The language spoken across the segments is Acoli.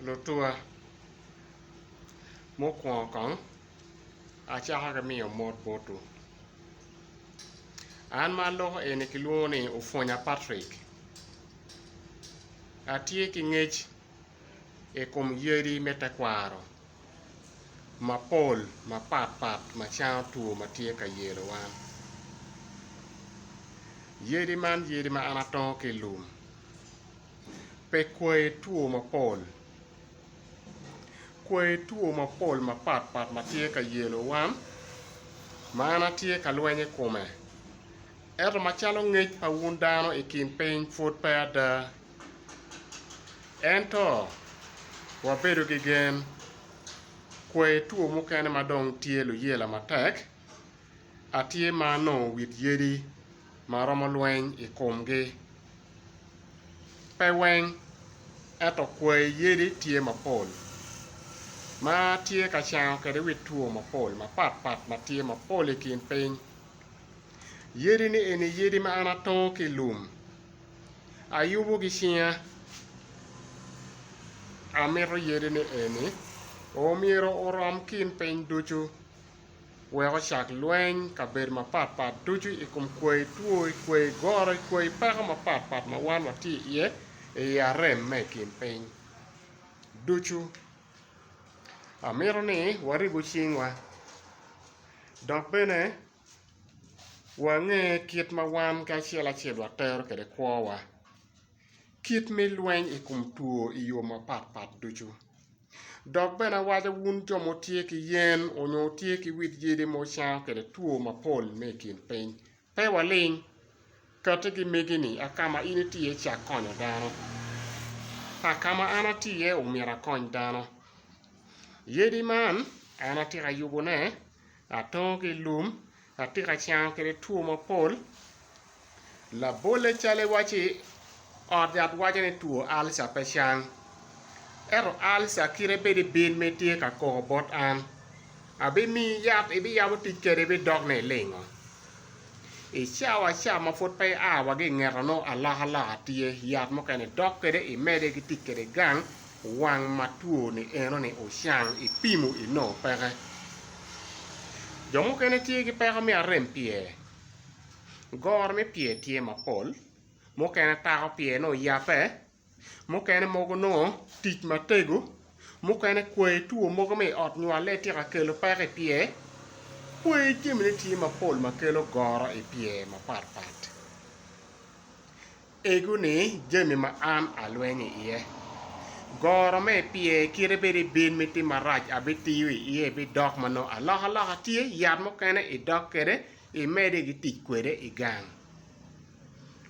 Lutuwa, mukwongo kong acako ki miyo mot botwu. An ma aloko eni kilwongo ni Opwonya Patrick. Atye ki ngec i kom yadi me tekwaro mapol mapat pat ma cango two ma tye ka yelo wan. Yadi man yadi ma an atongo ki i lum. Pe kwoyo two mapol. Kwoyo two mapol mapat pat ma tye ka yelo wan ma en a tye ka lweny i kome. Eto ma calo ngec pa wun dano i kin piny pwod pe ada. Ento wabedo ki gen. Kwoyo two mukene ma dong tye luyela matek. atye ma anongo wit yadi ma aromo lweny i komgi? Pe weng, ento kwayi yadi tye mapol ma atye ka cango kwede wit two mapol mapatpat ma tye mapol i kin piny. Yadi-ni eni yadi ma an atongo ki i lum, ayubo ki cinga. Amito yadi-ni eni omyero orom kin piny ducu. wek ocak lweny kabedo mapat pat ducu i kom kwayi two, i kwayi goro, i kwayi peko mapat pat ma wan watye iye i i arem me i kin piny ducu. Amito ni waribu cingwa dok bene wange kit ma wan kacel acel watero kwede kwowa. Kit me lweny i kom two i yo mapat pat ducu. Dok bene awaco wun jo ma wutye ki yen onyo wutye ki wit yadi ma wucango kwede two mapol me i kin piny, pe waling kati ki megi ni a kama in iti iye ci akonyo dano, a kama an ati iye omyero akony dano. Yadi man an atika yubo ne, atongo ki ilum, Atye ka cango kwede two mapol, labolle calo iwaci ot yat waco ni two ulcer pe cang ento ulcer kite bedo i bil ma itye ka koko bot an abimiyi yat ibiyabo tic kwede ibidok ni ilingo i cawa ca ma pud pe ia wa ki ingeto nongo alokaloka tye yat mukene idok kwede imede ki tic kwede gang Wang ma two ni eno ni ocang ipimo inongo peke. Jo mukene tye ki peko me arem pye, goro me pye tye mapol, mukene tako pye nongo oyape, mukene mogo nongo tic matego, mukene kwai two mogo me iot nywale tye ka kelo peko ipye, kwai jami ne tye mapol makelo goro ipye mapat pat. Egu ni jami ma an alweny i iye. Goro me pye kite bed i bin me tim marac abitiyo i iye bidok ma nongo alokaloka tye, yat mukene idok kwede imede ki tic kwede i gang.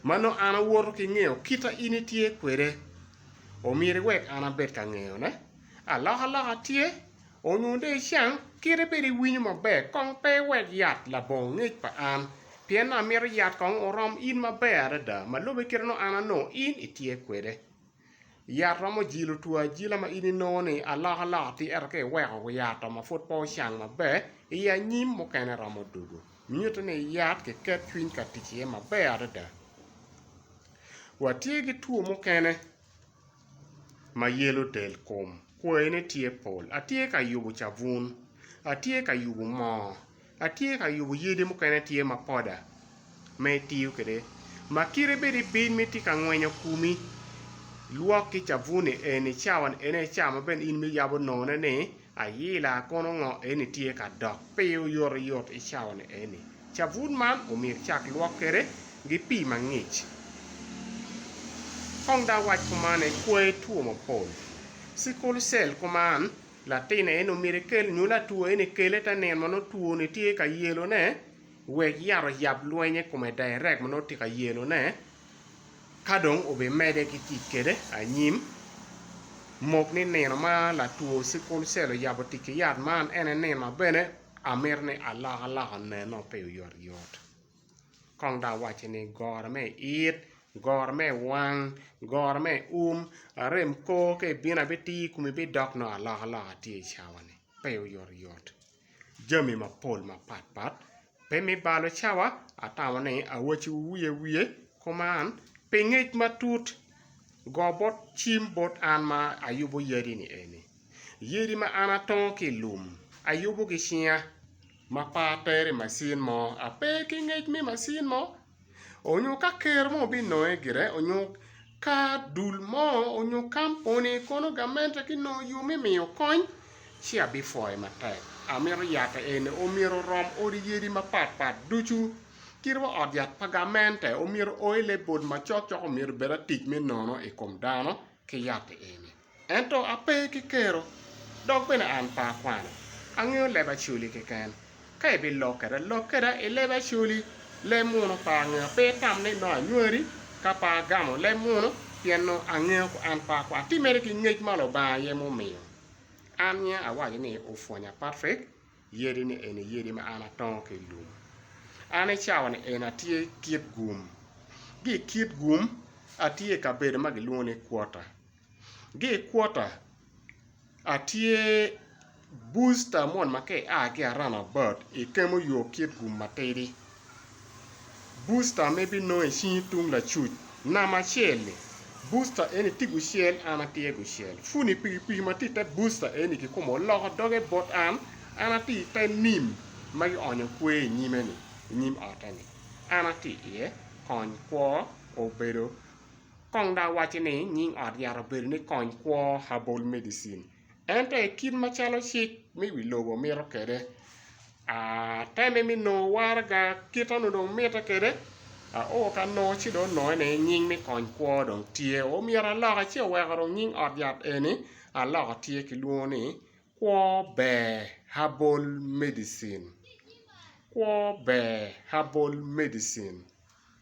Ma nongo an awoto ki ngeyo kita in itye kwede, omyero iwek an abed ka ngeyone. Alokaloka tye, Onyo dong icang kite bed iwinyo maber kong pe iwek yat labongo ngec pa an, pien amito yat kong orom in maber adada ma lube kite nongo an anongo in itye kwede. Yat romo jilo two ajila ma in inongo ni alokaloka ti ento ka iweko yato ma pud pe ocang maber i anyim mukene romo dugo. Nyuto ni yat ki ket cwiny ka tic iye maber adada. Watye ki two mukene. ma yelo del kom kwayine tye pol atye ka yubo cabun atye ka yubo moo atye ka yubo yadi mukene tye ma poda ma itiyo kwede ma kite bene ibin ma itye ka ngwenyo komi lwok ki cabun-ni eni cawa ene cawa ma bene in miyabo nonone ni Ayila kono ngo eni tye ka dok pii oyotoyot i cawani eni? Cabun man omyero icak lwok kwede gi pii mangic. Kong da wac kuman en kweyo two mapol. Sickle cell kuman latin eni omyero ekel nyo latwo eni kele te neno ma nongo two ni tye ka yelo ne wek yat oyab lweny ikome direct ma nongo tye ka yelo ne. Ka dong obimedde ki tic kwede anyim, mok ni nino ma latwo sikul cel oyabo tic ki yat man en aye nino ma bene amito ni alokaloka oneno pe oyotoyot. Kong dong awacci ni goro me i it, goro me i wang, goro me i um, arem kor ka ibino abitiyo i komi bidok nongo alokaloka tye i cawa-ni, pe oyotoyot. jami mapol mapat pat pe me balo cawa atamo ni awaciwu wiye wiye kuman pi ngec matut go bot cim bot an ma ayubo yadi ni eni, yadi ma an atongo ki i lum ayubo ki cinga ma pe atere i macin mo ape ki ngec me macin mo. onyo ka ker mo binonge gire onyo ka dul mo onyo kampuni kono gamente ki nongo yo me miyo kony ci abifoye matek amito yat eni omyero orom odi yadi mapat pat ducu kit wa ot yat pa gamente omyero oailable macok cok omyero obed atic me nono ikom dano ki yat eni. Ento ape ki kero, dok bene an pe akwano. Angeyo leb Acholi keken. Ka ibilok keda, lok keda i leb Acholi. Leb muno pe angeyo. Pe itam ni nongo anywari ka pe agamo leb muno, pien nongo angeyo ku an pe akwano. Ti mere ki ngec ma Lubanga aye mumiyo. An nyinga awaco ni Ofwonya Patrick, yadi ni eni yadi ma an atongo ki i lum. An i cawa ni eni atye Kitgum. Gi i Kitgum, atye i kabedo ma gilwongo ni Quarter. Gi i kwota a tye booster moni ma ka ia ki a run about i kemo yo kit gum matidi. Booster me bi nongo i cingi tung lacuc namba acel ni booster eni tye gucel an atye gucel funi pikipiki ma tye i te booster eni ki kome oloko doge bot an, an atye i te nim ma ki onyo kwe i nyime ni i nyim ote ni an atye iye kony kwo obedo. Kong dok wacci ni nying ot yat obedo ni Kony Kwo Herbal Medicine ento i kit macalo cik me wi lobo mito kwede, atemme me nongo waraga kit ma onongo mitte kwede. Oo ka nongo ci dong onongo ni nying me Kony Kwo dong tye, oo myero aloka ci oweko dong nying ot yat eni aloka tye kilwongo ni Kwo Ber Herbal Medicine.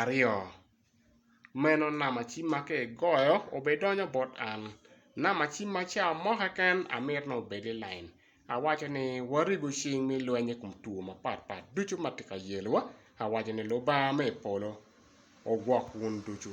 aryo. Meno namba cim ma ka igoyo obidonyo bot an, namba cim ma ca mo keken amito ni obed i lain awaco ni warigo cing me lweny i kom two mapat pat ducu ma tye ka yelowa awaco ni Lubanga me i polo ogwok wun ducu.